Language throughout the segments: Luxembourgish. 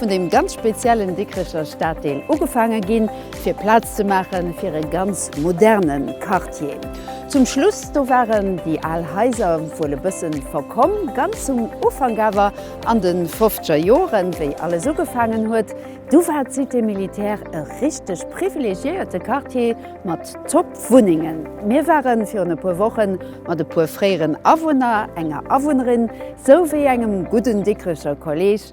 vun deem ganz speziellen Dikricher Staddeel ugefaange ginn, fir Plaz ze maache fir e ganz moderne Quartier. Zum Schluss do waren déi al Haiser wuel e bësse verkomm. Ganz zum Ufank awer, an de fofzeger Joren, wéi alles ugefaangen huet, du war d'Cité militaire e richteg privilegiéierte Quartier mat top Wunnengen. Mir ware virun e puer Woche mat e puer fréieren Awunner, enger Awunnerin, sou wéi engem gudden Dikricher Kolleeg,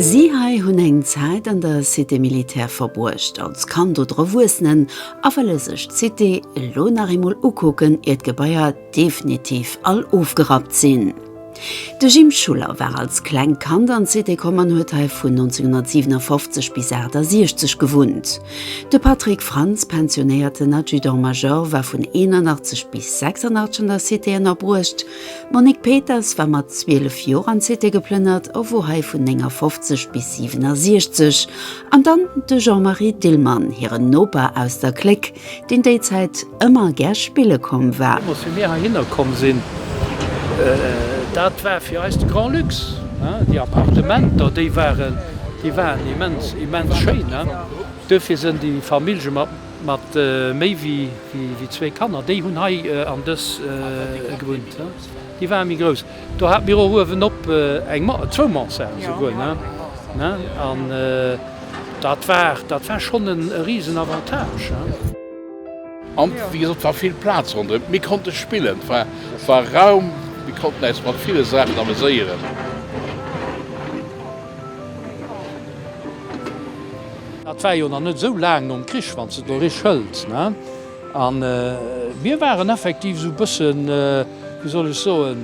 Si hei hunn eng Zäit an der Cité militaire verbruecht, als Kand oder Erwuessenen, a wëlle sech d'Cité elo nach eemol ukucken, ier d'Gebaier definitiv all ofgerappt sinn. De Jim Schuller war als klengt Kand an d'Cité komm an huet hei vun 1957 bis 68 gewunnt. De Patrick Frantz, pensionéierten Adjudant-Major, war vun 81 bis 86 an der Cité ënnerbruecht. D'Monique Peters war mat 12 Joer an d'Cité geplënnert a wor hei vun 59 bis 67. An dann de Jean-Marie Dillmann, hiren Noper aus der Clique. deen déi Zäit ëmmer gär spille komm war. Deemools, wéi mir heihinner komm sinn, dat war fir eis de Grand Lux. Déi Appartementer, déi waren, déi waren immens, immens schéin. Duerfir sënn déi Famillje mat, mat méi wéi, wéi zwee Kanner, déi hunn hei an dës gewunnt. Déi waren méi grouss. Do haten mir och uewenop eng, zwou Mansarden esouguer, ne? An dat war, dat war schonn e riesen Avantage. An, wéi gesot, war vill Plaz ronderëm. Mir konnte spillen, et war, et war Raum, mir konnten äis mat ville Saachen ameséieren. Dat war jo nach net esou laang nom Krich, wann s de et elo richteg hëls, ne? A mir waren effektiv esou e bësse, wéi soll ech soen,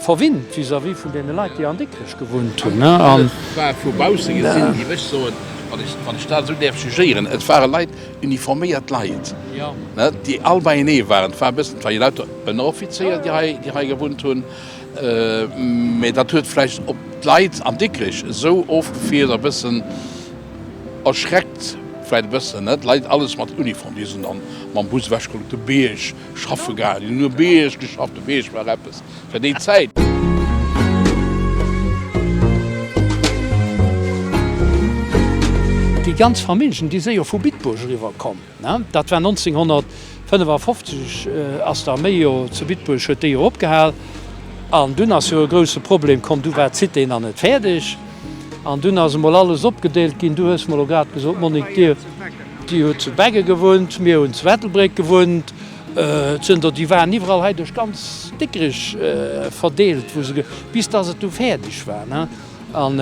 verwinnt vis-à-vis vun deene Leit, déi an Dikrech gewunnt hunn. An et war vu bausse gesinn, géif ech soen, wann ech dat esou däerf jugéieren, et ware Leit, uniforméiert Leit, déi all beienee waren. Et war e bëssen, et ware jo lauter Ënneroffizéier, déi hei gewunnt hunn. Mä dat huet vläicht op d'Leit an Dikrech esou ofgefiert, e bëssen, Erschreckt vläit e bëssen, net? Leit alles mat Uniform, déi sinn dann mam Bus ewech geholl op de Bierg schaffe gaangen. Déi hunn um Bierg geschafft, de Bierg war eppes fir déi Zäit. Déi ganz Familljen, déi si jo vu Bitburg eriwwer komm, ne? Dat war 1955, ass d'Arméi jo zu Bitburg, huet déi jo opgehal. An dunn ass jo e grousse Problem komm, du war d'Cité nach net fäerdeg. An dunn ass emol alles opgedeelt ginn. Du hues mer elo grad gesot, Monique, dir, dir hutt zu Beggen gewunnt, mir hunn zu Ettelbréck gewunnt. Zënter, déi waren iwwerall hei duerch ganz Dikrich verdeelt, wou se, bis dass et du fäerdeg war, ne? An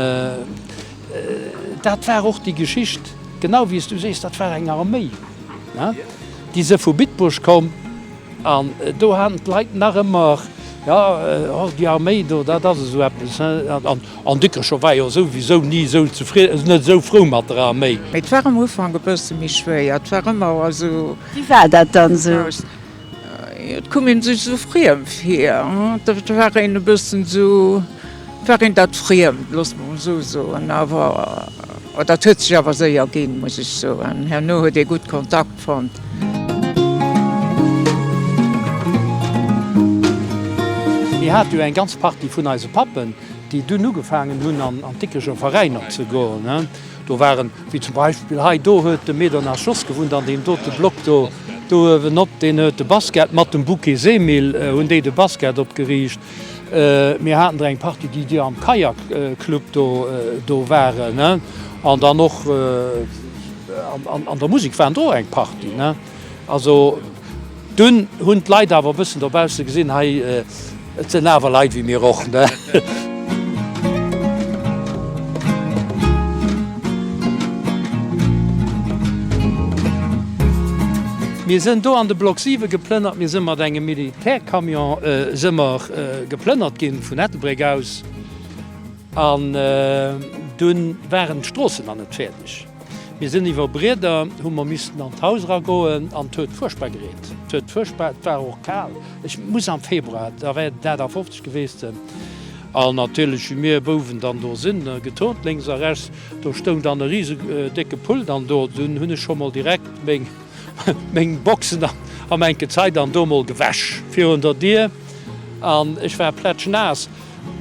dat war och déi Geschicht, genau wéi s du sees, dat war eng Arméi, ne? Déi se vu Bitburg komm. An do haten d'Leit nach ëmmer, Jo, och déi Arméi do, dat ass esou eppes. An Dikrech war jo souwisou ni esou zefridden, net esou frou mat der Arméi. Mee 't war am Ufank e bësse méi schwéier, 't war ëmmer esou. Wéi war dat dann esou? Jo, 't koum ee sech esou friem vir. 't war een e bëssen esou, 't war een dat Friemd, loosse mer emol esou soen. Awer dat huet sech awer séier ginn, muss ech soen. Herno huet ee gutt Kontakt. fonnt. Mir hat jo eng ganz Partie vun eise Pappen, déi dunn ugefaangen hunn an d'Dickecher Veräin op ze goen. Do waren, wéi zum Beispill hei, do huet de Me Donat Jos gewunnt an deem dote Block do uewenop, deen huet de Basket mat dem Bouquet Semil, hunn déi de Basket opgeriicht. Mir haten der eng Partie, déi déi am Kajakclub do waren. An dann och an der Musek waren der och eng Partie. Also dunn hunn d'Leit awer e bëssen dobausse gesinn, hei, et sinn awer Leit wéi mir och. Mir sinn do an de Block 7 geplënnert. Mir sinn mat engem Milli Per Camion se mer geplënnert gin vun Ettelbréck aus an dun waren d'Stroossen na net fäerdeg. Mir sen iwer Brieder, hu mer missten an d'Haus ra goen an 't huet furchtbar gereent. 't huet furchtbar, 't war och kaal. Ech muss am Februar, da wär et dat a 50 gewest sen. An natierlech wi mir Bouwen dann do sin getont lénks a rechts, do stoung dann e riesendécke Pult an do dun hun ech scho mol direkt méng. Meng Boxen am enke Zait an do mol gewäsch virun der Dier an ech war plätschnaass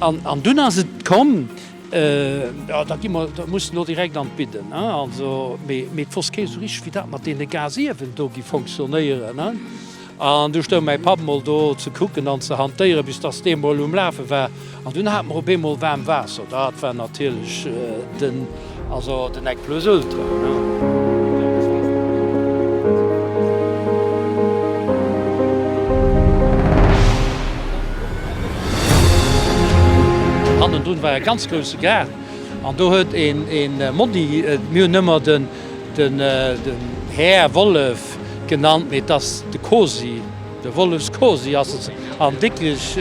an dunn ass et komm, jo da gi mer, da muss en och direkt an d'Bidden also, mee et wosst kee sou richteg wéi dat mat deene Gasiewen do gi fonctionnéieren. An du stoung mäi Papp mol do ze kucken an ze hantéieren, bis dass dee mol um Lafe war. An dunn hat mer op eemol waarm Waasser. Dat war natierlech den. Also den Nec Plus Ultra. Hannendrun war e ganz grousse Gaart an do huet e Monni, mir hunn ëmmer den Här Wollef. Wolf genannt, mee et ass de Cosy, de Wollefs Cosy ass et an wierklech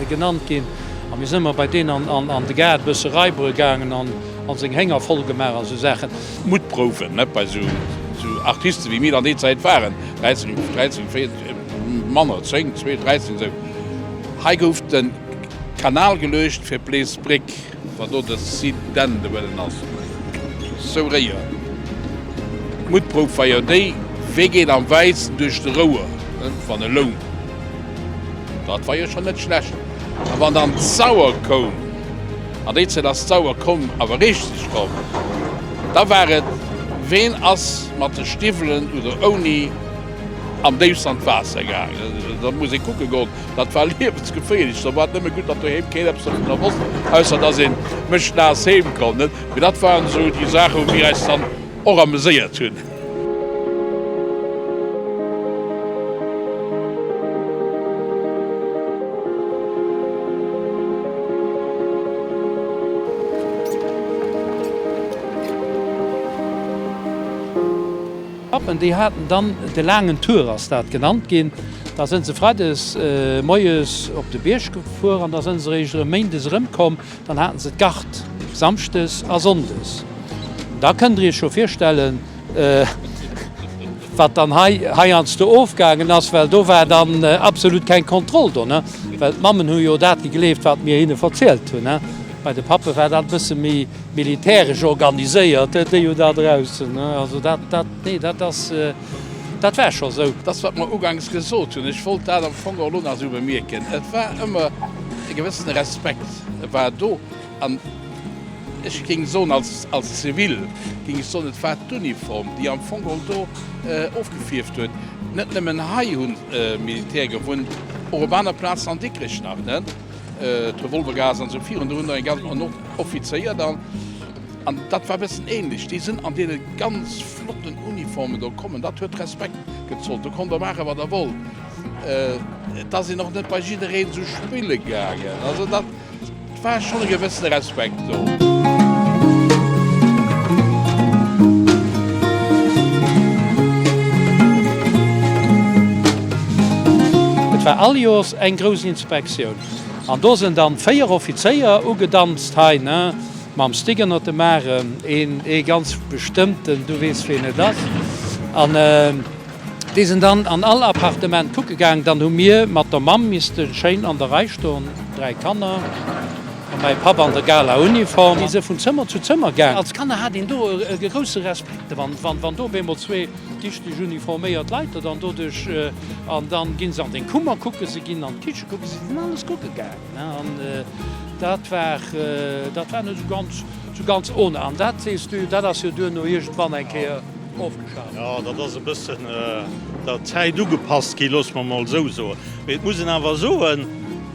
genannt ginn. A mir si mar bei deen an de Gaart e bësse raibere gaangen an seng Hénger voll gemaach a sou Saachen. Mutprouwen, net bei sou Artiste wéi mir dann déi Zäit waren, 13, 13, 14, manner, 10, 12, 13, sou. Hei gouf de Kanal geluecht fir d'Place Bréck. Wa do de Site d'Ende wëllen ass, sou réier d'Muttprouf wei jo déi, wee geet am wäitsten duerch de Rouer, net wann e lount, dat war jo schon net schlecht, a wann dann d'Sauer koum, an déi Zäit ass d'Sauer komm, awer richteg komm, da war et, ween ass mat de Stiwwelen oder ouni am déifst an d'Waasser gaangen, dat muss ee kucke goen. Dat war liewensgeféierlech. Da war et nëmme gutt, datt doheem keen eppes dovunner wosst, ausser datt ee méchnaass heem komm. Mee dat waren esou déi Saache wou mir eis dann och ameséiert hunn. D'Pappen, déi haten dann de laangen Tour, ass dat genannt ginn. Da sënn se freides moies op de Bierg gefuer an da sënn se eréischt erëm méindes erëmkomm. Dann haten se d'Gard samschdes a sonndes. An da kënnt Der Iech scho virstellen, wat dann hei heiansdo ofgaangen ass, well do war dann absolut keng Kontroll do. Well d'Mammen hu jo dat gegleeft, wat mir hinne verzielt hunn. Bei de Pappe war dat e bësse méi. Militäresch organiséiert, déi jo da draussen, also dat, dat, nee, dat ass, dat war scho sou. Dat ass, wat mer uganks gesot hunn. Ech wollt dat am Fong och elo nach esou bemierken. Et war ëmmer e gewëssene Respekt war do. An ech géing soen, als, als Zivil géing ech soen, et war d'Uniform, déi am Fong och do ofgefierft huet. Net nëmmen hei hu Militär gewunnt, och op aner Plazen an Dikrech nach, ne? D'Revolvergas an esou virun, do hunn der eng ganz, an och Offizéier dann. An dat war e bëssen ähnlech. Déi sinn an deene ganz flotten Uniformen do kommen, dat huet Respekt gezollt. Do konnt der maache wat der wollt. Et ass een och net bei jiddereen esou spille gaangen. Also dat war schonn e gewëssene Respekt. Et war all Joers eng grouss Inspektioun an do sen dann 4 Offizéier ugedanzt hei ne mam Stick ënnert dem Aarem, een ee ganz bestëmmten, du weess ween et ass an déi sen dann an all Appartement kucke gaang. Dann hu mir mat der Mamm missten schéin an der Rei stoen, 3 Kanner. A mäi Papp an der Galauniform. Déi se vun Zëmmer zu Zëmmer gaang. Als Kanner hat een do e grousse Respekt, wann do op eemol zwee dichteg uniforméiert Leit der dann do duerch. An dann ginn se an den Kummer kucken, se ginn an d'Kiche kucken, se sinn alles kucke gaangen. An dat war, dat war net esou ganz, esou ganz ohne. An dat, sees du, dat ass jo duerno iergendwann eng Kéier ofgeschaf ginn. Jo, dat ass e bëssen der Zäit ugepasst ginn, loosse mer emol esou soen. Mee et muss een awer soen.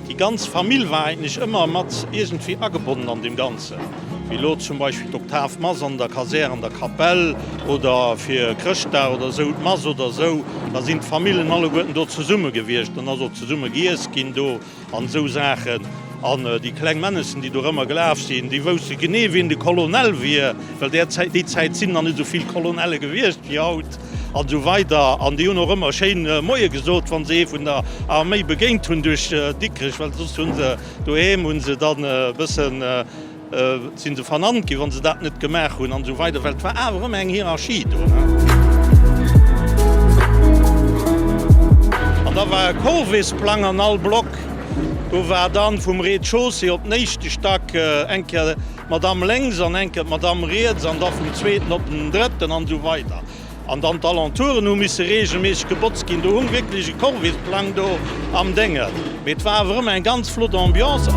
Déi ganz Famill war eigentlech ëmmer mat iergendwéi agebonnen an deem Ganzen, wéi elo zum Beispill d'Oktavmass an der Kasär an der Kapell oder fir Chrëschtdag oder esou d'Mass oder esou. Da sinn d'Famillen alleguerten do zesumme gewiescht an ass och zesumme giess ginn do an esou Saachen. An déi kleng Männessen, déi dorëmmer gelaf sinn, déi wousste genee, wien de Colonel wier, well där Zäit, déi Zäit sinn nach net esou vill Colonelle gewiescht wéi haut. an esou weider an déi hunn och ëmmer schéin Moie gesot wann se ee vun der Arméi begéint hunn duerch Dikrech, well soss hunn se doheem hunn se dann e bëssen sinn se vernannt ginn wann se dat net gemaach hunn an esou weider, well et war awer ëmmer eng Hierarchie do. An da war e Corvesplang an all Block do war dann vum Rez-de-chaussée op den éischte Stack eng Kéier. D'Madamm lénks an enke d'Madamm riets an da vum zweeten op den drëtten an esou weider. An dann d'Alentouren hu misse reegelméisseg gebotzt ginn. Do hu mer wierklech e Corvée-Plang do am Dénge mee et war awer ëmmer eng ganz flott Ambiance.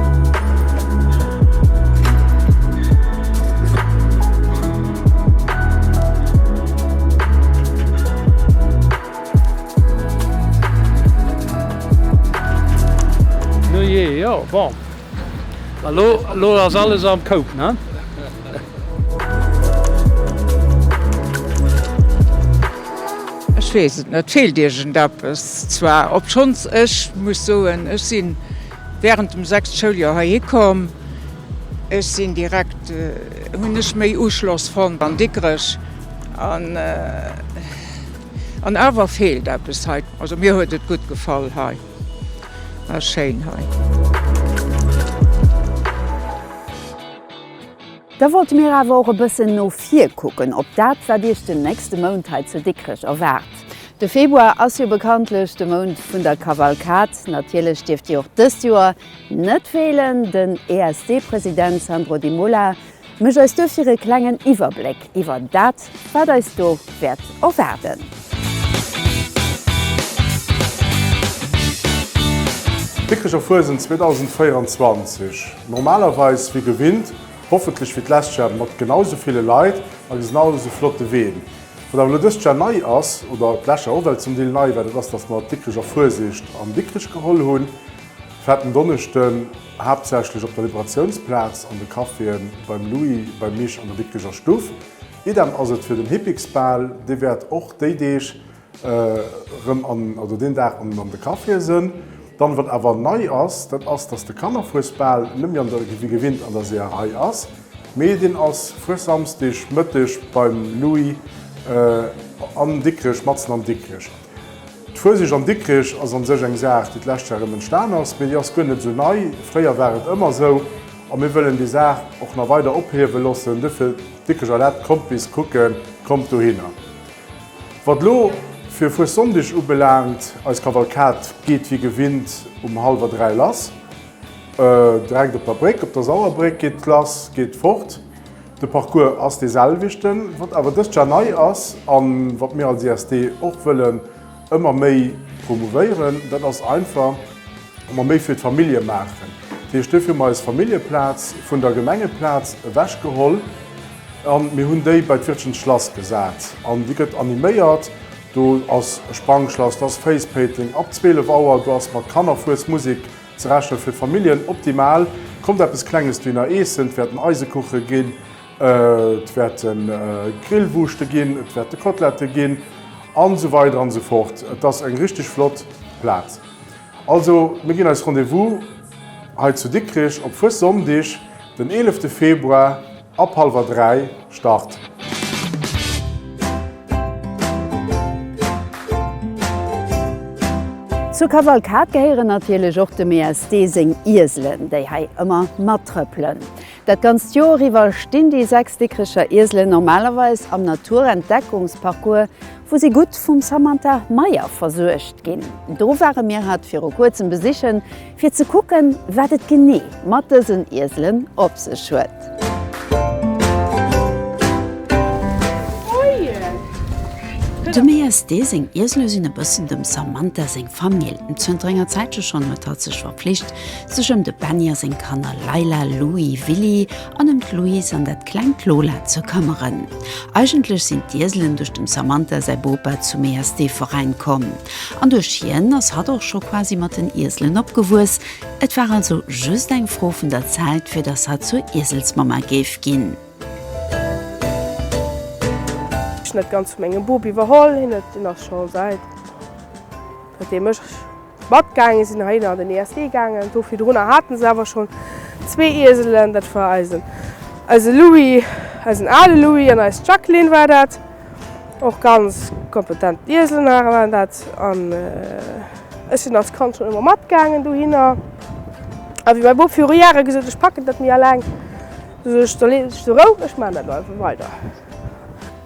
Nujee, jo bon. Elo ass alles am Koup, ne? Ech weess et net, feelt iergendeppes? Zwar, obschonns ech muss soen, ech si während dem sechst Schouljoer heihi komm, ech sinn direkt, hunn ech méi Uschloss fonnt an Dikrech an an awer feelt eppes hei. Also mir huet et gutt gefall hei. Ah schéin hei. Da wollte mir awer och e bëssen no vir kucken op dat, wat Iech den nächste Mount hei zu Dikrech erwaart. De Februar ass jo bekanntlech de Mount vun der Kavalkad. Natierlech dierft Dir och dëst Joer net feelen. Den ESD-President Sandro Di Mola Méch eis duerfir e klengen Iwwerbléck iwwer dat, wat eis do wäert erwaarden. D'Dikricher Fuesent 2024, normalerweis wéi gewinnt, hoffentlech wéi d'lescht Jahr mat genau esou ville Leit a genau esou flotte Ween. Wat awer elo dëst Jahr nei ass, oder d'lescht Jahr och well zum Deel nei war, dat ass, dass mer d'Dikricher Fuesischt an Dikrich geholl hunn, Fetten Donneschden. haaptsächlech op der Liberatiounsplaz, an de Caféen beim Louis, beim Mich an der Bitgeger Stuff. Idem ass et fir den Hippiksbal, dee wäert och déi Deeg erëm an, oder deen Dag an, an de Caféen sënn. Dann, wat awer nei ass, dat ass, datt de Kannerfuesbal net méi an der, wéi gewinnt, an der Seeërei ass, mee deen ass Fuessamsdeg Mëtteg beim Louis an Dikrech, matzen an Dikrech. D'Fueseg an Dikrich ass an sech eng Saach déi d'lescht Joer erëm entstan ass, mee déi ass guer net esou nei. Fréier war et ëmmer esou a mir wëllen déi Saach och nach weider ophiewe loossen. Duerfir d'Dikricher Lett, kommt bis kucken, kommt dohinner. Wat elo fir Fuessonndeg ubelaangt, eis Kavalkad geet wéi gewinnt um hallwer 3 lass. Direkt op der Bréck, op der Sauerbréck geet lass, geet fort. De Parcours ass dee selwechten. Wat awer dëst Jar nei ass a wat mir als ISD och wëllen ëmmer méi promouvéieren, dat ass einfach, datt mer méi fir d'Famillje maachen. Dat heescht, duerfir hu mer eis Familljeplaz vun der Gemengeplaz ewechgeholl a mir hunn déi bei d'Wirtschens Schlass gesat. An déi gëtt animéiert. Do ass e Sprangschlass, do ass Face Painting ab 12 Auer, do ass mat Kannerfuesmusek. Ze rechnen fir Familljen optimal. Kommt eppes klenges Diner eessen, et wäerten Eisekuche ginn, et wäerte Grillwurschte ginn, et wäerte Kotlette ginn an esou weider an esou fort. Et ass eng richteg flott Plaz. Also mir ginn eis Rendez-vous hei zu Dikrich op Fuessonndeg den 11 Februar. Ab halwer 3 Start! Zur Kavalkad gehéieren natierlech och dem ESD seng Ieselen, déi hei ëmmer mattrëppelen. Dat ganzt Joer iwwer stinn déi 6 Dikricher Ieselen normalerweis am Naturentdeckungsparcours, wou si gutt vum Samantha Meyer versuergt ginn. Do ware mir hatt viru kuerzem besichen. Fir ze kucken, wat et genee mat dësen Ieselen op sech huet. Dem ESD seng Iesele sinn e bëssen dem Samantha seng Famill. Zënter enger Zäitche schonn huet hatt sech verpflicht, sech ëm de Benny a seng Kanner Leila, Louie, Willy an ëm d'Louise an dat klengt Lola ze këmmeren. Eigentlech sinn d'Ieselen duerch dem Samantha säi Bopa zum ESD-Veräin komm. An duerch hien ass hatt och scho quasi mat den Ieselen opgewuess. Et war also just eng Fro vun der Zäit, fir datt hatt zur Ieselsmamma géif ginn. Ech hunn dat Ganzt vu mengem Bub iwwerholl. Hien huet, deen ass scho säit dat deem ech matgaange sinn, heihinner an den ESD gaangen. Do virdrunner hate se awer schonn zwee Ieselen. Dat war eisen, eise Louis, eisen ale Louis, an eis Jacqueline war dat. och ganz kompetent Ieselnager waren dat an ech sinn als Kand schonn ëmmer matgaangen dohinner. A wéi mäi Bop viru Jahre gesot huet, ech packen dat net méi eleng, du sech do lees ech de Rou, ech maachen dat lo einfach weider.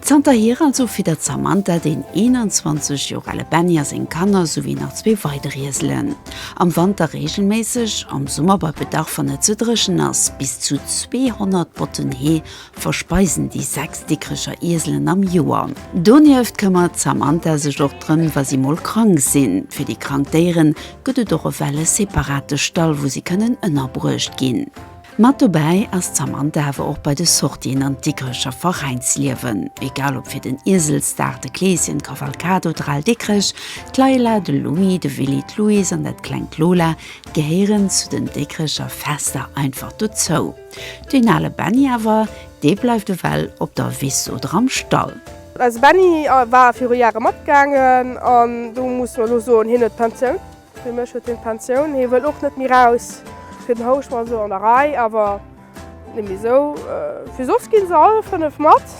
Zanterhier also fiddert d'Samantha deen 21 Joer ale Benny a seng Kanner souwéi nach zwee weider Ieselen. Am Wanter reegelméisseg, am Summer bei Bedarf wann et ze dréchen ass bis zu 200 Botten Hee verspeisen déi sechs Dikrecher Ieselen am Joer. Donieft këmmert d'Samantha sech och drëm, wa si mol krank sinn. Fir déi krank Déiere gëtt et och ewell e separate Stall, wou si kënnen ënnerbruecht ginn. Mat dobäi ass d'Samantha awer och bei de Sortien an d'Dikrecher Veräinsliewen. Egal ob fir den Ieselsdag, de Kleeschen, d'Kavalkad oder al Dikrech, d'Leila, de Lumi, de Willy, d'Louise an dat klengt Lola gehéieren zu den Dikrecher Fester einfach dozou. Deen ale Benny awer, dee bleift ewell op der Wiss oder am Stall. Eise Benny war viru Jahre matgaangen an do muss mer elo soen, hien huet d'Pensioun. Fir mech huet hien d'Pensioun. Hie wëll och net méi raus. Fir den Housch mat elo an der Rei, awer net méi esou vill. Soss gi se all fënnef mat.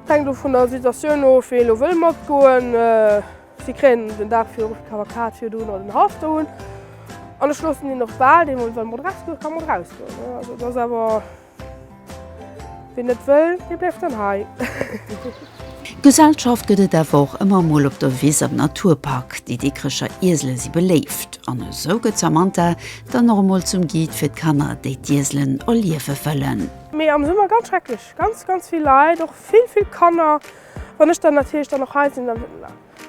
Hänkt och vun der Situatioun of, wien elo wëll matgoen. Si kréien den Dag virun d'Kavalkad virun oder den Halfter un an ech loossen hien och bal, dee mol soll mat erausgoe ka mat erausgoen. Also et ass awer, ween net wëll, dee bleift dann hei. Gesellschaft gëtt et awer och ëmmer emol op der Wiss am Naturpark. Déi Dikrecher Iesele si beléift an esou gëtt d'Samantha dann och emol zum Guide fir d'Kanner, déi d'Ieselen erliewe wëllen. Mee am Summer ganz schrecklech, ganz, ganz vill Leit, och vill, vill Kanner. Wann ech dann natierlech dann och hei sinn, da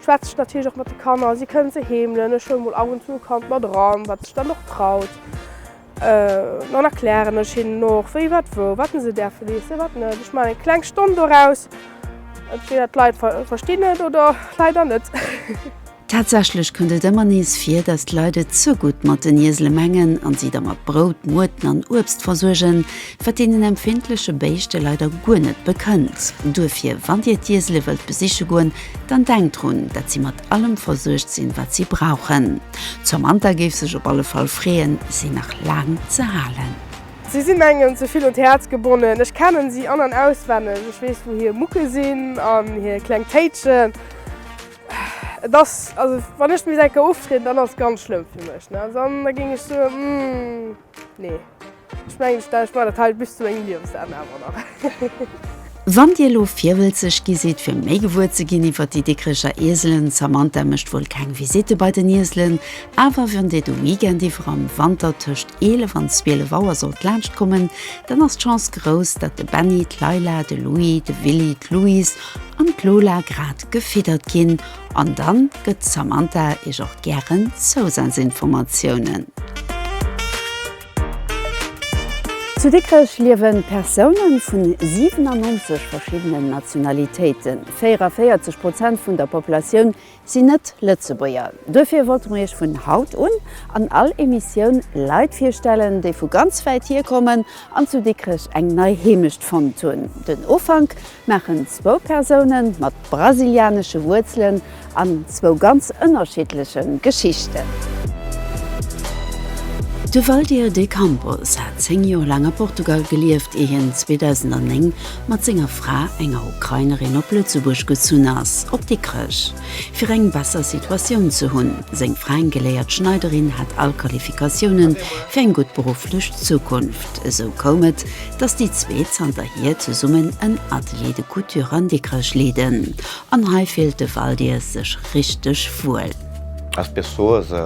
schwätze ech natierlech och mat de Kanner. Si kënnen se heemelen, ech huele mol ab und zu e Kand mat eran, wat sech dann och traut. Dann erklären ech hinnen och, wéi, wat, wou, wat se däerfen iessen, wat net. Ech maachen eng kleng Stonn doraus. Entweder d'Leit verstinn et oder leider net. Tatsächlech kënnt et ëmmer nees vir, datt d'Leit et ze gutt mat den Iesele mengen a si da mat Brout, Muerten an Uebst versuergen, wat deenen empfindleche Béischte leider guer net bekënnt. Duerfir, wann Dir d'Iesele wëllt besiche goen, dann denkt drun, datt si mat allem versuergt sinn, wat si brauchen. D'Samantha géif sech op alle Fall freeën, si nach laang ze halen. Si sinn engem ze vill un d'Häerz gebonnen. Ech kennen si an an auswenneg. Ech weess, wou hir Mucke sinn an hir kleng Téitschen. Et ass, also wann ech misst eng Kéier oftrieden, dann ass et ganz schlëmm fir mech. Dann da géing ech soen, nee, ech mengen, ech maachen dat hei bis zu mengem Liewensenn awer nach. Wann dir elo virwëlzeg gi sidd fir méi gewuer ze ginn iwwer déi Dikrecher Ieselen, d'Samantha mécht wuel keng Visitte bei den Ieselen, awer wann dir de Weekend iwwer am Wanter tëscht 11 an 12 Auer sollt laanschtkommen, dann ass d'Chance grouss, datt de Benny, d'Leila, de Louis, de Willy, d'Louise an d'Lola grad gefiddert ginn an dann gëtt d'Samantha iech och gären Zousazinformatiounen. Zu Dikrech liewen Persoune vun 97 verschiddenen Nationalitéiten. 44 Prozent vun der Populatioun sinn net Lëtzebuerger. Duerfir wollte mer Iech vun haut un an all Emissioun Leit virstellen, déi vu ganz wäit hier kommen an zu Dikrech eng nei Heemecht fonnt hunn. Den Ufank maachen zwou Persoune mat brasilianesche Wuerzelen an zwou ganz ënnerschiddleche Geschichten. De Valdir de Campos hat 10 Joer laang a Portugal gelieft, ier hien 2009 mat senger Fra, enger Ukrainerin, op Lëtzebuerg gezunn ass, op Dikrech, fir eng besser Situatioun ze hunn. Seng Fra, eng geléiert Schneiderin, hat all Qualifikatioune fir eng gutt berufflech Zukunft. Esou koum et, datt déi zwee zanterhier zesummen en Atelier de couture an Dikrech leeden. An hei fillt de Valdir sech richteg wuel. Als Persoa se.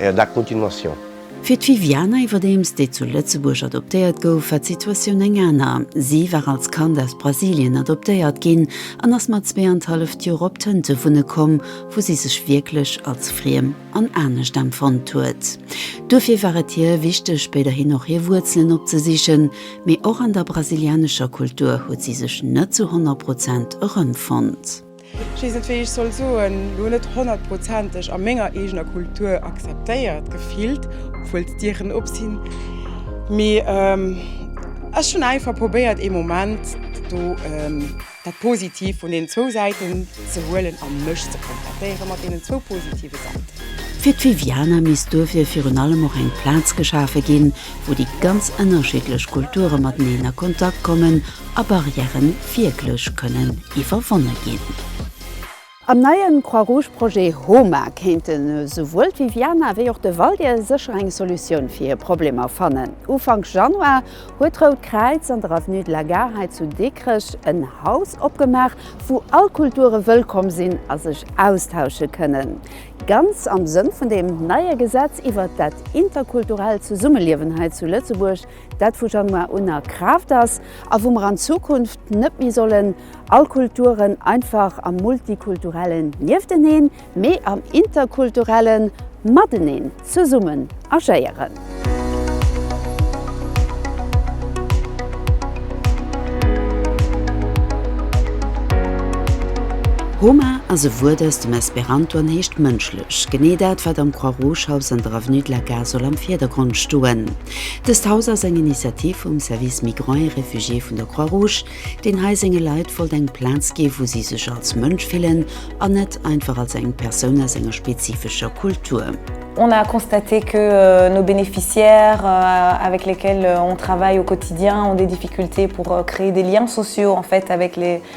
La continuation. Fir d'Viviana iwwerdeems, déi zu Lëtzebuerg adoptéiert gouf, war d'Situatioun eng aner. Si war als Kand aus Brasilien adoptéiert ginn an ass mat zwee an d'halleft Joer op Tënte wunne komm, wou si sech wierklech als friem an anescht empfonnt huet. Duerfir war et hir wichteg, spéiderhin och hir Wuerzelen opzesichen. Mee och an der brasilianescher Kultur huet si sech net zu 100 Prozent erëmfonnt. Ech weess net wéi ech soll soen, lo net honnertprozenteg a menger eegener Kultur akzeptéiert gefillt, obwuel d'Dieren op sinn, mee ech hunn einfach probéiert ee Moment do dat Positiv vun deenen zwou Säiten ze huelen a mech ze kontentéiere mat deenen zwou positive Säiten. Fir d'Viviana misst duerfir virun allem och eng Plaz geschafe ginn, wou déi ganz ënnerschiddlech Kulture mateneen a Kontakt kommen a Barrièren wierklech kënnen iwwerwonne ginn. Am neien Croix-Rouge-Projet HOMA kéinten esouwuel d'Viviana wéi och de Valdir sécher eng Solutioun fir hir Problemer fannen. Ufank Januar huet d'Rout Kräiz an der Avenue de la Gare hei zu Dikrech en Haus opgemaach, wou all Kulture wëllkomm sinn a sech austausche kënnen. Ganz am Sënn vun deem neie Gesetz iwwert dat interkulturellt Zesummeliewen hei zu Lëtzebuerg. dat vu Januar un a Kraaft ass a wou mer an Zukunft net méi sollen all Kulturen einfach am Multikulturellen niefteneen, mee am Interkulturellen mateneen zesummen agéieren. Roma ass e Wuert aus dem Esperanto an heescht mënschlech, genee dat, wat am Croix-Rouge-Haus an der Avenue de la Gare soll am Virdergrond stoen. Dëst Haus ass eng Initiativ vum Service Migrants et Réfugiés vun der Croix Rouge, deen hei senge Leit wollt eng Plaz ginn, wou si sech als Mënsch fillen an net einfach als eng Persoun aus enger spezifescher Kultur. On a constaté que nos bénéficiaires avec lesquels on travaille au quotidien ont des difficultés pour créer des liens sociaux en fait avec les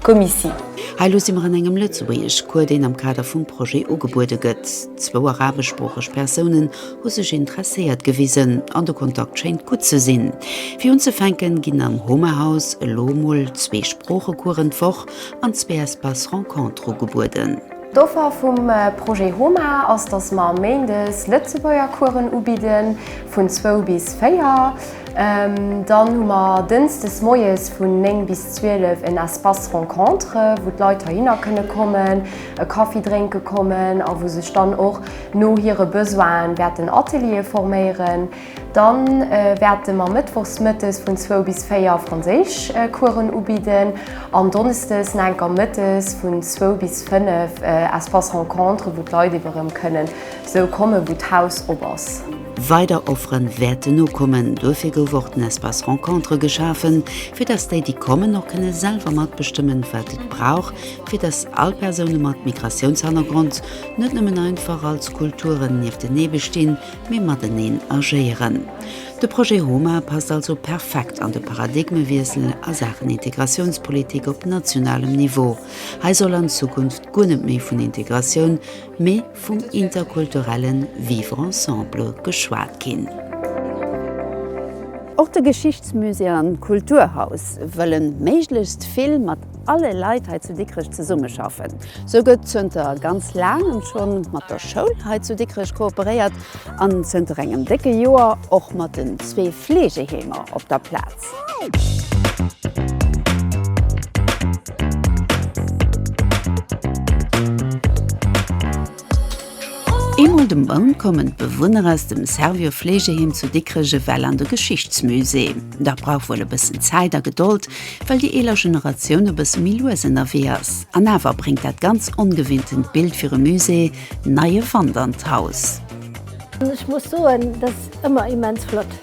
Comici. Hei lo si mer an engem Lëtzebuergeschcours, deen am Kader vum Projet ugebuede gëtt. Zwou arabeschsproocheg Persounen hu sech interesséiert gewisen an de Kontakt schéint gutt ze sinn. Fir unzefänken ginn am Homahaus elo mol zwee Sproochecoursen d'Woch an zwee Espace-rencontre ugebueden. D'Offer vum Projet Homa ass, dass mer méindes Lëtzebuergercoursen ubidden, vun zwou bis véier. Dann hu mer dënsdes moies vun néng bis zwielef en Espace Rencontre, wou d'Leit heihinner kënne kommen, e Kaffi drénke kommen a wou sech dann och no hire Besoine wäerten Ateliere forméieren. Dann wärten mer Mëttwochs Mëttes vun 2 bis 4 Franséisch Coursen ubidden an Donnesdes na enker Mëttes vun 2 bis 5 Espace Rencontre wou d'Leit iwwer rëm kënnen sou kommen wou d'Haus op ass. Weider Offeren wärten nokommen, duerfir gouf och den Espace Rencontre geschafen fir dass déi déi kommen och kënnen selwer matbestëmmen wat et brauch fir dass all Persoune mat Migratiounshannergrond net nëmmen einfach als Kulturen nieftenee bestinn, mee mateneen agéieren. De Projet HOMA passt also perfekt an de Paradigmewiessel a Saachen Integratiounspolitik op nationalem Niveau. Hei soll an Zukunft guer net méi vun Integratioun, mee vum interkulturellen Vivre ensemble geschwat ginn. Och de Geschichtsmusée an d'Kulturhaus wëllen méiglechst vill mat alle Leit hei zu Dikrech zesummeschaffen. Sou gëtt zënter ganz laangem scho mat der Schoul hei zu Dikrech kooperéiert an zënter engem décke Joer och mat den zwee Fleegeheemer op der Plaz. Eemol de Mount kommen d'Bewunner aus dem Servior Fleegeheem zu Dikrech ewell an de Geschichtsmusée. Dat brauch wuel e bëssen Zäit a Gedold, well déi eeler Generatioun e bësse méi lues ënnerwee ass. An awer bréngt dat ganz ongewinntent Bild fir e Musée neie Wand an d'Haus. Ech muss soen, dat ass ëmmer immens flott,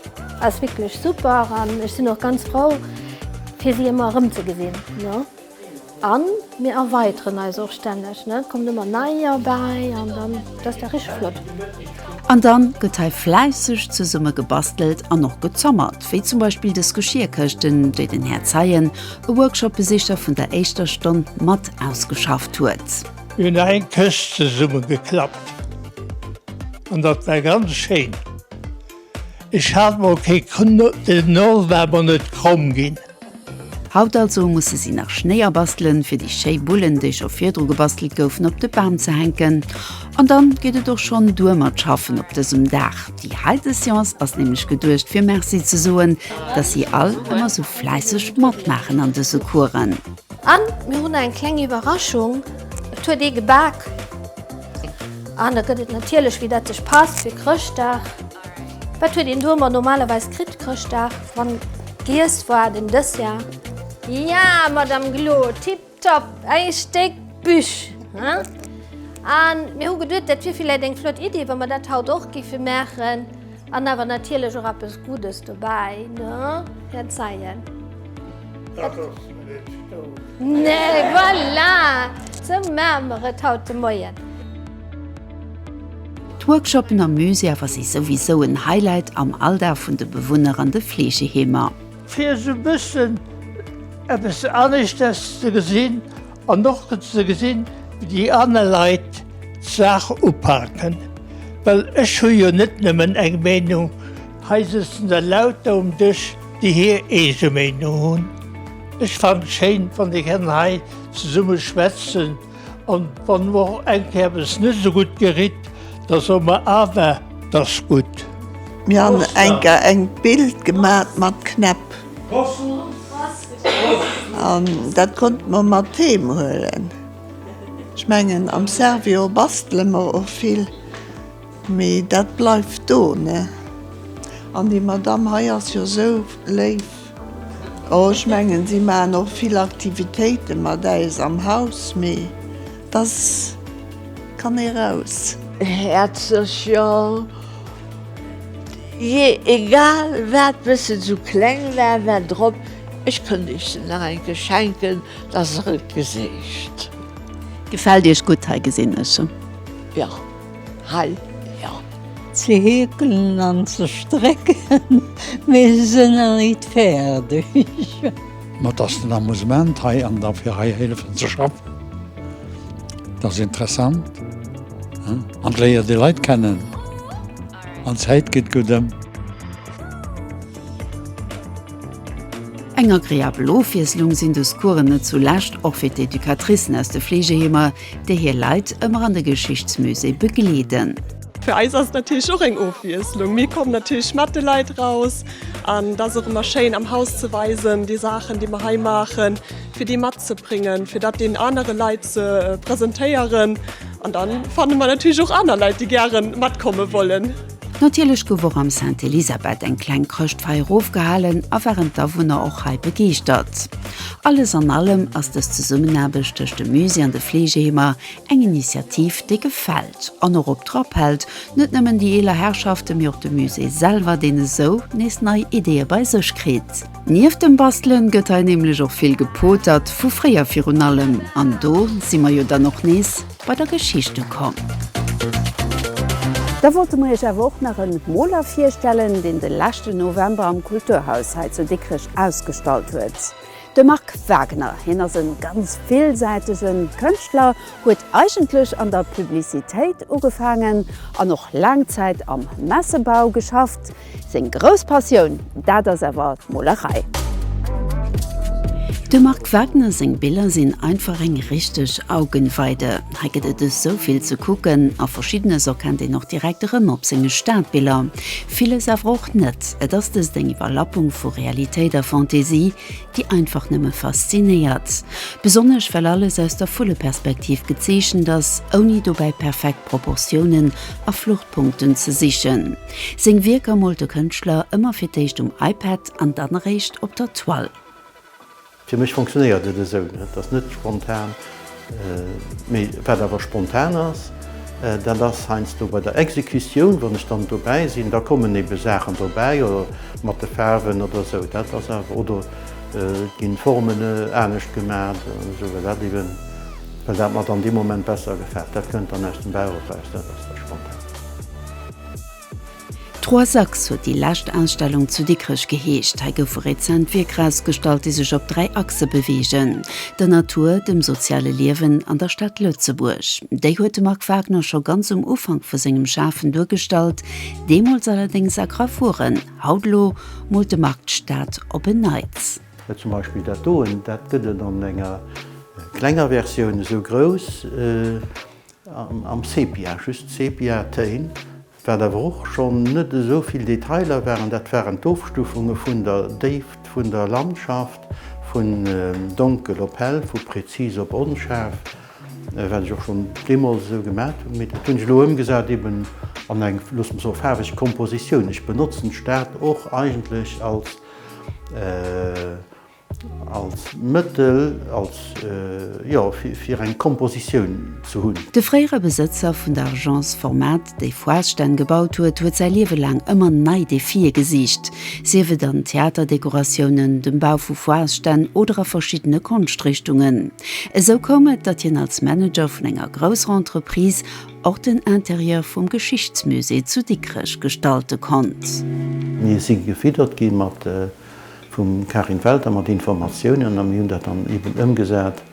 ass wierklech super an ech sinn och ganz frou fir si ëmmer erëmzegesinn. A mir erweiteren eis och stänneg, et kommen ëmmer neier bäi an dann dat ass da richteg flott. An da gëtt hei fläisseg zesumme gebastelt an och gezommert, wéi zum Beispill dës Geschierkëschten, déi den Här Zeien, e Workshopbesicher vun der éischter Stonn, mat ausgeschafft huet. Mir hunn hei eng Këscht zesumme geklappt an dat war ganz schéin. Ech hat mol kee Knuet, den Nord war mer net kromm ginn. Haut also musse si nach Schnéi abastelen, fir déi schéi Bullen, déi scho virdru gebastelt goufen, op de Bam ze hänken. An dann geet et och schonn duer mat Schaffen op dësem Dag. Déi heite Seance ass nämlech geduecht, fir Merci ze soen, dass si all ëmmer esou fläisseg matmaachen an dëse Coursen. An mir hunn eng kleng Iwwerraschung, et huet ee gebak. An da gëtt et natierlech, wéi dat sech passt, fir Chrëschtdag. Wat huet een domat normalerweis kritt Chrëschtdag? Wann giess war den Dessert. Ja Madame Glo, tip top, ee Stéck Büch hein! An mir hu geduet dat wier villäit eng flott Idee wa mer dat haut och giffe maachen an awer natierlech och eppes Guddes dobäi ne? Här Zeien. Dat ass net stou. Nee, voilà! Sou maache mer et haut de Moien. D'Workshoppen am Musée awer si souwisou en Highlight am Alldag vun de Bewunner an de Fleegeheemer. Fir esou e bëssen eppes aneschters ze gesinn an och ze gesinn, wéi déi aner Leit d'Saach upaken. Well ech hu jo net nëmmen eng Meenung, hei sëtzen der lauter um Dësch, déi hir eege Meenung hunn. Ech fannen et schéin wann dir kennt hei zesummen schwätzen an wann mor eng Kéier eppes net esou gutt geritt da soen mer awer et ass gutt. Mir han enker eng Bild gemat mat Knäpp an dat konnten mer mat heem huelen. Ech mengen am Servior bastelen mer och vill mee dat bleift do ne an déi Madame hei ass jo esou léif. Oh ech mengen si maan och vill Aktivitéiten mat äis am Haus mee dass kann ee raus. Häerzlech jo, je egal waat bis se su kleng war war drop, ech könnt iech se nach enke schenken dass er et geséicht. Gefällt iech gudd hei gesin ech. Jo. Hal ler ze heekelen an ze strécken, mee se sënn nach nit fäerdeg. Ma et ass den Amusement hei an da fir hei hélefen ze schaffen, et ass interessant an et léiert ee Leit kennen an d'Zäit geet gutt ëm. Eng agreabel Ofwiesslung sinn dës Coursen net zulescht och fir d'Educatricen aus de Fleegeheemer, déi hir Leit ëmmer an de Geschichtsmusée begleeden. Fir eis ass et natierlech och eng Ofwiesslung. Mir kommen natierlech mat de Leit raus an et ass och ëmmer schéin am Haus ze weisen, déi Saachen, déi mer hei maachen, fir déi matzebréngen, fir dat deenen anere Leit ze presentéieren. An da fanne mer natierlech och aner Leit, déi gäre matkomme wollen. Natierlech gouf och am Sainte Elisabeth eng kleng Chrëschtfeier ofgehalen a waren d'Awunner och hei begeeschtert. Alles an allem ass dës Zesummenaarbecht tëscht dem Musée an de Fleegeheemer eng Initiativ, déi gefält an och op Trapp hält, net nëmmen déi eeler Herrschaften, mee och de Musée selwer, deen esou nees nei Ideeë bei sech kritt. Nieft dem Bastelen gëtt hei nämlech och vill gepotert, vu fréier virun allem, an do si mer jo dann och nees. bei der Geschicht ukomm. Da wollte mer iech awer och nach en Moler virstellen, deen de leschten November am Kulturhaus hei zu Dikrech ausgestallt huet, de Marc Wagner. Hien ass e ganz villsäitege Kënschtler, huet eigentlech an der Publicitéit ugefaangen an och laang Zäit am Messebau geschafft. Seng grouss Passioun, dat ass awer d'Molerei. Dem Marc Wagner seng Biller sinn einfach eng richteg Augenweide. Hei gëtt et esou vill ze kucken a Verschiddenes erkennt een och direkt erëm op senge Stadbiller, villes awer och net. Et ass dëst eng Iwwerlappung vu Realitéit a Fantasie, déi einfach nëmme faszinéiert. Besonnesch well alles aus der Vulleperspektiv gezeechent ass, ouni dobäi perfekt Proportiounen a Fluchtpunkten ze sichen. Seng Wierker moolt de Kënschtler ëmmer fir d'éischt um iPad an dann eréischt op der Toile. Fir mech funktionéiert et esou net. Et ass net spontan. Mee wat awer spontan ass, dat ass heiansdo bei der Exekutioun, wann ech dann dobäi sinn, da kommen ebe Saachen dobäi oder mat de Faarwen oder esou. Dat ass awer, oder et ginn d'Formen anescht gemaach oder esou, well dat eben, well dat mer dann dee Moment besser gefält. Dat kënnt dann aus dem Bauch eraus, dat ass da spontan. Trois Axes huet déi lescht Ausstellung zu Dikrech geheescht. Hei goufe rezent Wierker ausgestallt, déi sech op dräi Achse beweegen, der Natur, dem soziale Liewen an der Stad Lëtzebuerg. Déi huet de Marc Wagner scho ganz um Ufank vu sengem Schafen duergestallt, deemools allerdéngs a Gravuren. Haut elo moolt de Marc d'Stad op en Neits. Zum Beispill dat doen, dat gëtt et an enger klenger Versioun, esou grouss. Am Sepia, just Sepia Téin, wat awer och schonn net esou vill Detailer waren, dat waren d'Ofstufunge vun der Déift vun der Landschaft, vun donkel op hell, vu präzis op onschaarf, wat ech och schonn deemools esou gemat hunn, mee dat hunn ech elo ëmgesat eben an eng, looss mer soe faarweg Kompositioun. Ech benotzen d'Stad och eigentlech als. Als Mëttel, als, jo, fir eng Kompositioun ze hunn. De fréiere Besëtzer vun der Agence Format, déi Foiresstänn gebaut huet, huet säi Liewe laang ëmmer nei Defie gesicht, sief et an Theaterdekoratiounen, dem Bau vu Foiresstänn oder a verschiddene Konschtrichtungen. Esou koum et, datt hien als Manager vun enger grousser Entreprise och den Interieur vum Geschichtsmusée zu Dikrech gestalte konnt. Mir si gefiddert gi mat. Vum Karin Welter mat Informatiounen a mir hunn dat dann eben ëmgesat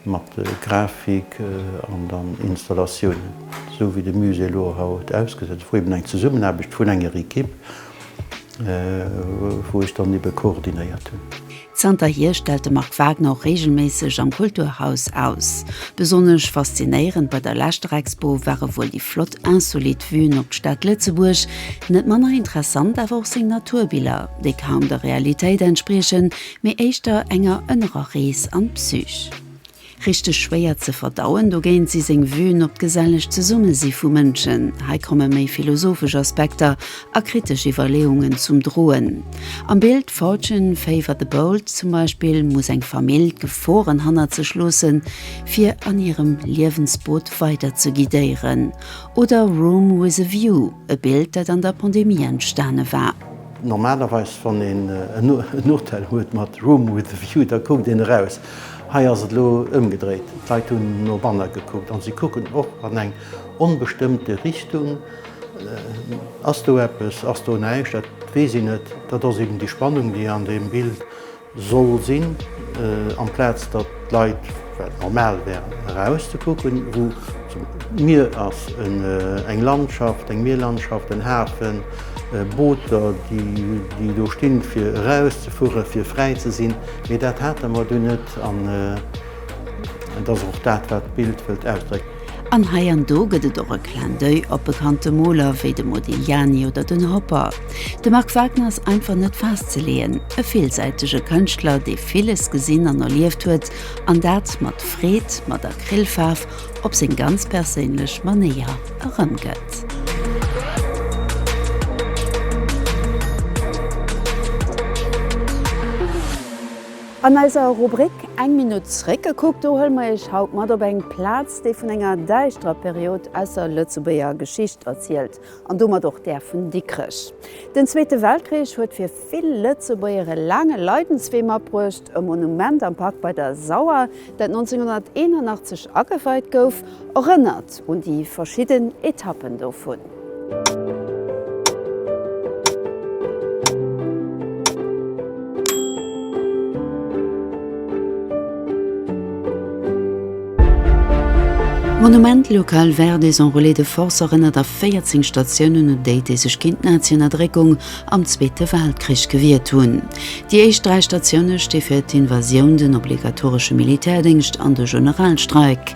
mat Grafik an dann Installatiounen, esou wéi de Musée elo haut ausgesäit ass, wou eben eng Zesummenaarbecht vun enger Equipe, wou ech dann ebe koordinéiert hunn. Zanterhier stellt de Marc Wagner och reegelméisseg am Kulturhaus aus. Besonnesch faszinéierend bei der leschter Expo ware wuel déi flott insolite Vuen op d'Stad Lëtzebuerg, Net manner interessant awer och seng Naturbiller, déi kaum der Realitéit entspriechen, mee éischter enger ënnerer Rees an d'Psych. Richteg schwéier ze verdauen dogéint si seng Vuen op d'geselleg Zesummesi vu Mënschen, hei komme méi philosophesch Aspekter a kritesch Iwwerleeungen zum Droen. Am Bild Fortune favour the bold zum Beispill muss eng Famill d'Geforen hannert sech loossen, fir an hirem Liewensboot weider ze guidéieren. Oder Room with a view, e Bild dat an der Pandemie entstane war. Normalerweis wann een en Hotel huet mat Room with a view, da kuckt een eraus. Hei ass et elo ëmgedréit, d'Leit hunn no banne gekuckt an si kucken och an eng onbestëmmte Richtung. Ass do eppes, ass do näischt, dat weess een net. Dat ass eben déi Spannung déi an deem Bild Soll sinn, amplaz datt d'Leit, wat normal wär, eraus ze kucken, wou d'Mier ass, eng Landschaft, eng Mierlandschaft, en Hafen, Booter, déi do stinn, fir eraus ze fueren, fir fräi ze sinn. Mee dat hate mer do net. An et ass och dat, wat d'Bild wëllt ausdrécken. An hei an do gëtt et och e Clin d'oeil op bekannte Moler wéi de Modigliani oder den Hopper. De Marc Wagner ass einfach net festzeleeën, e villsäitege Kënschtler, dee villes gesinn an erlieft huet, an dat mat Freed, mat Acrylfaarf, op seng ganz perséinlech Manéier erëmgëtt. An eiser Rubrik Eng Minutt zréckgekuckt, do huele mer Iech haut mat op eng Plaz, déi vun enger däischterer Period aus der Lëtzebuerger Geschicht erzielt an domat och där vun Dikrech. Den Zweete Weltkrich huet fir vill Lëtzebuerger e laange Leidenswee matbruecht. E Monument am Park bei der Sauer, dat 1981 ageweit gouf, erënnert. Un déi verschidden Etappen dovun. D'Monument Local Verdes Enrôlés de Force erënnert a 14 Statiounen un déi, déi sech géint d'Naziënnerdréckung am Zweete Weltkrich gewiert hunn. Déi éischt dräi Statioune sti fir d'Invasioun, den obligatoresche Militärdéngscht an de Generalstreik.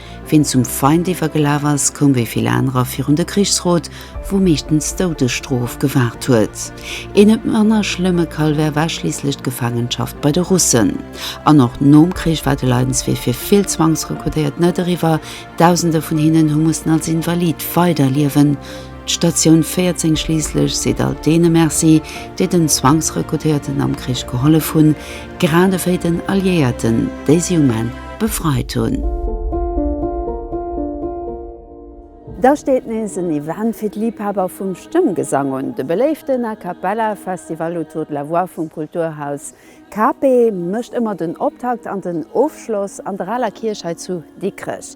Ween zum Feind iwwergelaf ass, koum wéi vill anerer virun de Krichsrot, wou meeschtens d'Doudesstrof gewaart huet. Een net manner schlëmme Calvaire war schliisslech d'Gefaangenschaft bei de Russen. An och nom Krich war de Leidenswee fir vill Zwangsrekrutéiert net eriwwer, Dausende vun hinnen hu mussen als Invalid weiderliewen. D'Statioun 14 schliisslech seet all deene Merci, déi den Zwangsrekrutéierten am Krich gehollef hunn. Grad ewéi den Alliéierten, déi si um Enn befreit hunn. Da steet nees en Event fir d'Liibhaber vum Stëmmgesang un, de beléiften A Cappella Festival Autour de la Voix vum Kulturhaus KP mécht ëmmer den Optakt an den Ofschloss an der aler Kierch hei zu Dikrech.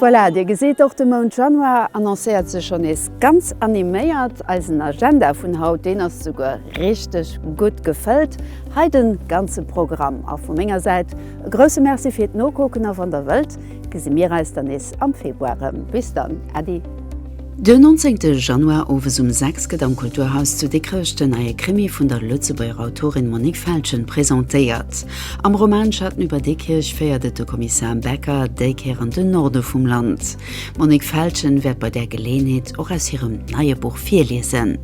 Voilà, Dir gesitt, och de Mount Januar annoncéiert sech schonn nees ganz animéiert. Eisen Agenda vun haut, deen ass souguer richteg gutt gefëllt. Hei de ganze Programm a vu menger Säit e grousse Merci fir d'Nokucken a wann Der wëllt, Gesi mir eis dann nees am Februar rëm. Bis dann, Äddi! Den 19 Januar owes um 6 gëtt am Kulturhaus zu Dikrech den neie Krimi vun der Lëtzebuerger Autorin Monique Feltgen presentéiert. Am Roman Schatten über Diekirch féiert et de Kommissar Becker déi Kéier an den Norde vum Land. D'Monique Feltgen wäert bei där Geleeënheet och aus hirem neie Buch virliesen.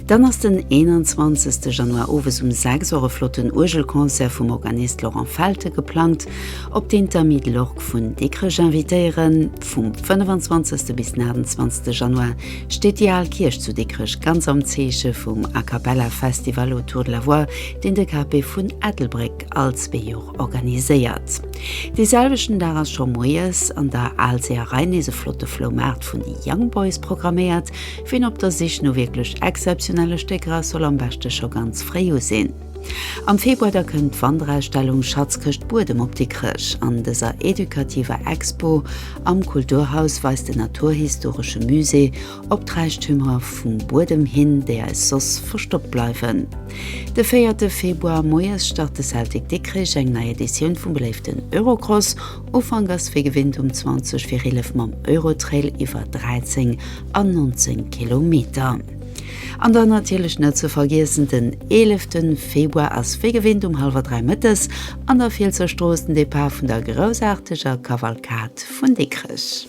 Dann ass den 21 Januar owes um 6 Auer e flotten Uergelconcert vum Organist Laurent Felte geplangt. Op deen d'Amis de l'Orgue vun Dikrech invitéieren. Vum 25 bis den 28 Januar steet déi al Kierch zu Dikrech ganz am Zeeche vum A Cappella Festival autour de la voix, deen de KP vun Ettelbréck all zwee Jor organiséiert. Dee selwechten Dag ass scho moies an der Aalseeërei nees e flotte Floumaart vun de Young Boys programméiert. Ween op der Sich no wierklech exzeptionelle Stécker ass, soll am beschte scho ganz fréi u sinn. Am Februar da kënnt d'Wanderausstellung Schatzkëscht Buedem op Dikrech. An dëser edukativer Expo am Kulturhaus weist den naturhistoresche Musée op d'Räichtümer vum Buedem hin, déi eis soss verstoppt bleiwen. De véierte Februar moies start de Celtic Dikrich eng nei Editioun vum beléiften Eurocross. Ufank ass wéi gewinnt um 20 vir 11 mam Eurotrail iwwer 13 an 19 Kilometer. An dann natierlech net ze vergiessen, den 11 Februar ass wéi gewinnt um hallwer 3 mëttes an der Fielsser Strooss den Depart vun der groussaarteger Kavalkad vun Dikrech.